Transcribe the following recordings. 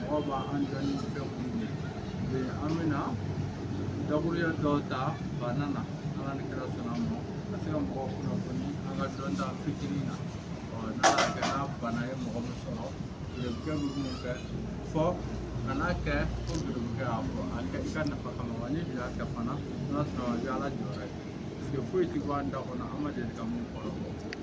mɔgɔ b'a an jɔ ni fɛn minnu ye bi an bɛna dakuruya dɔw ta bana na ala ni kira sɔnna a ma ka se ka mɔgɔw kunnafoni an ka dɔnta fitinin na ɔ n'a y'a kɛ n'a bana ye mɔgɔ min sɔrɔ biribukɛ bɛ minnu kɛ fɔ ka n'a kɛ ko biribukɛ y'a fɔ a kɛ i ka nafa kama wa n'i y'a kɛ fana n'a sɔrɔ i bɛ ala jɔyɔrɔ ye parce que foyi tɛ bɔ an da kɔnɔ an ma deli ka min kɔrɔbɔ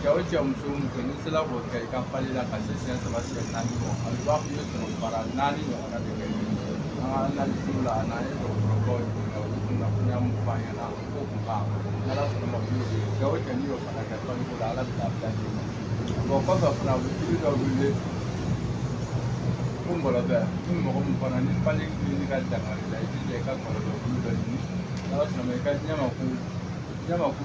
cɛ o cɛ muso o muso n'i sera k'o kɛ i ka pali la ka se siɲɛ saba siɲɛ naani ma a bɛ b'a fɔ i ye sɔrɔmu bara naani ɲɔgɔnna de kɛ an ka analisiw la a n'an ye dɔgɔtɔrɔbaw ɲininka olu kunnafoniya min f'an ɲɛna o ko kun kan n'ala sɔnna ma olu de cɛ o cɛ n'i y'o fana kɛ paliko la ala bɛ lafiya d'i ma bon kɔfɛ fana u bɛ jiri dɔ wele ko ngɔlɔbɛ ni mɔgɔ min fana ni pali ni ka dangari la i jija i ka ngɔlɔbɛ bulu dɔ ɲini n'ala sɔnna ma i ka ɲamaku ɲamaku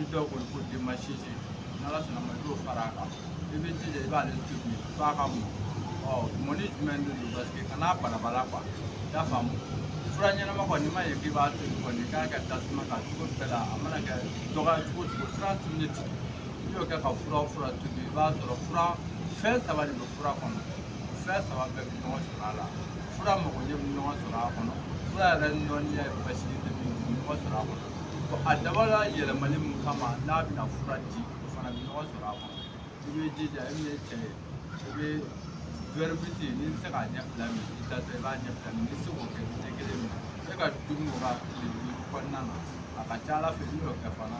i dɔw kɔni ko den ma si se n'ala sɔnna ma i b'o fara a kan i bɛ jija i b'ale to yen f'a ka mɔ ɔ mɔni jumɛn de don paseke kana balabala kuwa i y'a faamu fura ɲɛnama kɔni n'i ma ɲɛ k'i b'a to yen kɔni k'a kɛ tasuma kan cogo bɛɛ la a mana kɛ dɔgɔya cogo o cogo trente minutes n'i y'o kɛ ka fura fura tobi i b'a sɔrɔ fura fɛn saba de bɛ fura kɔnɔ fɛn saba bɛɛ bɛna sɔrɔ a la fura magoɲɛ bɛna sɔrɔ a kɔnɔ fura yɛrɛ nɔnniya ye basi ye bɛna sɔrɔ a kɔnɔ a dabɔla yɛlɛmali min kama n'a bɛna fura di o fana bɛna sɔrɔ a kɔnɔ i bɛ jija e min ye cɛ ye i bɛ wɛri biti n'i bɛ se k'a ɲɛ fila min i da i b'a ɲɛ fila min n'i se k'o kɛ ɲɛ kelen min e ka dumuni o ka tile duuru kɔnɔna na a ka ca ala fɛ n'i y'o kɛ fana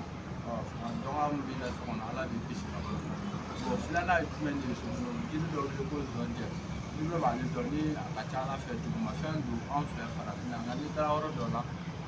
dɔgɔya min b'i la so kɔnɔ ala b'i kisi ka bɔ o filanan ye jumɛn de ye jiri dɔ bɛ ko zɔnjɛ n'i b'ale dɔn ni a ka ca ala fɛ dugumafɛn don an fɛ farafinna nka n'i taara yɔrɔ dɔ la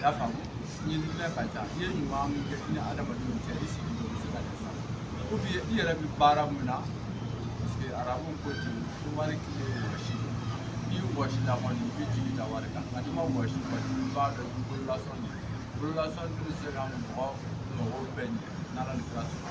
y'a faamu ɲinila ka ca i ye ɲuman min kɛ i ni adamadenw cɛ i sigi dɔ bɛ se ka kɛ sa ou bien i yɛrɛ bɛ baara min na parce que arabu ko ten ko wari kile wɔsi n'i wɔsila kɔni i bɛ jigi da wari kan nka n'i ma wɔsi kɔni i b'a dɔn i bololasɔn de bololasɔn tɛ se ka mɔgɔ mɔgɔw bɛɛ ɲɛ n'ala ni kira sɔnna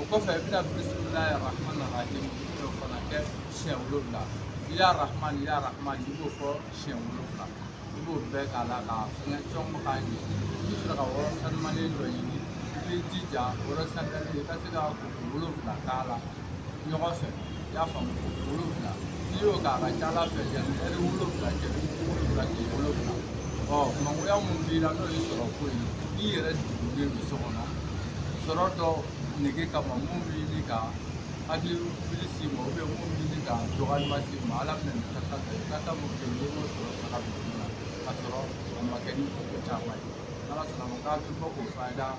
o kɔfɛ i bɛna bisimilahi rahmani rahim o fana kɛ siɲɛ wolonwula ya rahman ya rahman i b'o fɔ siɲɛ wolonwula i b'o bɛɛ k'a la k'a fɛngɛ fɛnw bɛ k'a ɲɛ i bɛ sɔrɔ ka yɔrɔ sanuyalen dɔ ɲini i b'i jija yɔrɔ sanuyalen i ka se ka koko wolonwula k'a la ɲɔgɔn fɛ y'a faamu koko wolonwula n'i y'o kɛ a ka ca ala fɛ yanni ɛri wolonwula cɛ wolonwula k'i wolonwula ɔ mangoya min b'i la n'o ye sɔrɔ ko ye n'i yɛrɛ sigilen don so kɔnɔ sɔrɔ dɔ nege kama min b'i ni ka hakili wuli s'i ma ou bien min b'i ni ka dɔgɔyalima s'i ma ala bɛna nin kasa ta i kasa mun kɛ n'i y'o sɔrɔ saga duguma ka sɔrɔ a ma kɛ ni ko caman ye n'ala sɔnna ma k'a bɛ bɔ k'o fayida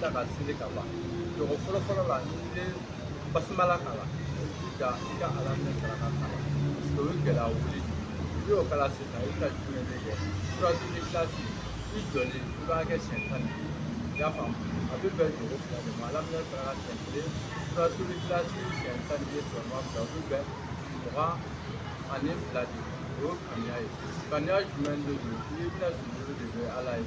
ta ka seli ka ban jɔkɔ fɔlɔ fɔlɔ la n'i ye basimala kalan jija i ka alaminɛsaraka kalan o ye gɛlɛya wuli n'i y'o kalan sisan i bɛna jumɛn de kɛ suratuli kilasi i jɔlen i b'a kɛ siɲɛ tan i y'a faamu a bɛ bɛn jɔkɔ fila de ma alaminɛsaraka siɲɛ kelen suratuli kilasi siɲɛ tan sigiyɔrɔma fila o bɛ bɛn mugan ani fila de ma o ye kaniya ye kaniya jumɛn de don i bɛna sigi de bɛ ala ye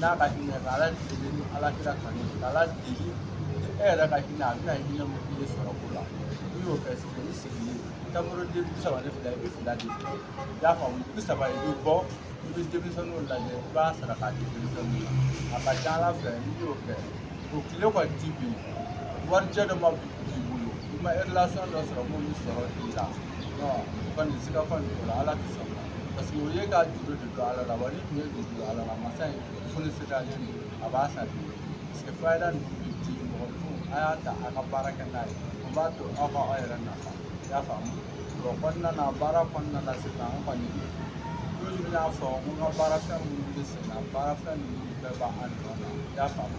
n'a ka hinɛ ka ala deli ni ala kira kanu ka ala deli ni e yɛrɛ ka hinɛ a bɛna hinɛ min k'i ye sɔrɔ ko la n'i y'o kɛ sisan i sigilen tamaroden bi saba ni fila i bɛ fila de kɛ i y'a faamu bi saba i bɛ bɔ i bɛ denmisɛnninw lajɛ i b'a saraka di denmisɛnninw ma a ka ca ala fɛ n'i y'o kɛ o tile kɔni ti bin warijɛ dɔ ma b'i bolo i ma dɔ sɔrɔ mun bɛ sɔrɔ i la o kɔni sigafan de don ala tɛ sɔn parce que o ye ka juru de don ala la wa ni tun ye juru don ala la masa in fonisirelen don a b'a sara parce que fayida ninnu bɛ di mɔgɔ fo a y'a ta a ka baara kɛ n'a ye o b'a to aw ka aw yɛrɛ nafa i y'a faamu o kɔnɔna na baara kɔnɔna na sisan an kɔni toujours n y'a fɔ n ko n ka baarafɛn minnu bɛ sen na baarafɛn ninnu bɛɛ b'an nɔ na i y'a faamu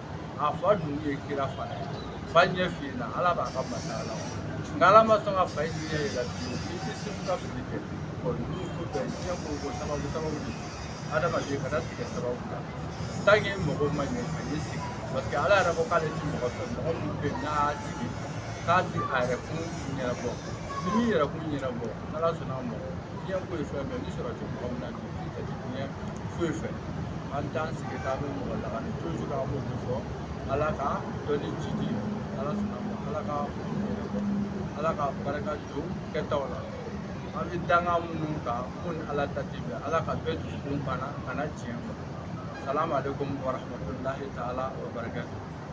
a fa dun ye kira fana ye fa ɲɛ fiyenna ala b'a ka masaya la nka ala ma sɔn ka fa in ɲɛ yɛlɛ fiyewu i tɛ se ka fili kɛ ɔ ninnu ko bɛɛ diɲɛ ko ko sababu sababu de adamaden kana tigɛ sababu la tanke mɔgɔ ma ɲɛ a ye sigi parce que ala yɛrɛ ko k'ale ti mɔgɔ fɛ mɔgɔ min bɛ n'a y'a sigi k'a ti a yɛrɛ kun ɲɛnabɔ ni min yɛrɛ kun ɲɛnabɔ n'ala sɔnna a mɔgɔ diɲɛ ko ye fɛn bɛɛ ni sɔrɔ tɛ mɔgɔ min na foyi fɛ an t'an sigi k'an bɛ mɔgɔ lagani toujours an b'o de fɔ ala ka dɔnni jiidi ala sɔnna a ma ala ka ala ka barika don kɛtaw la an bɛ danga minnu kan mun ni ala ta ti bɛn ala ka bɛɛ dusukun bana kana tiɲɛ kɔ asalamu aleykum warahmatulahi taala wa barakatu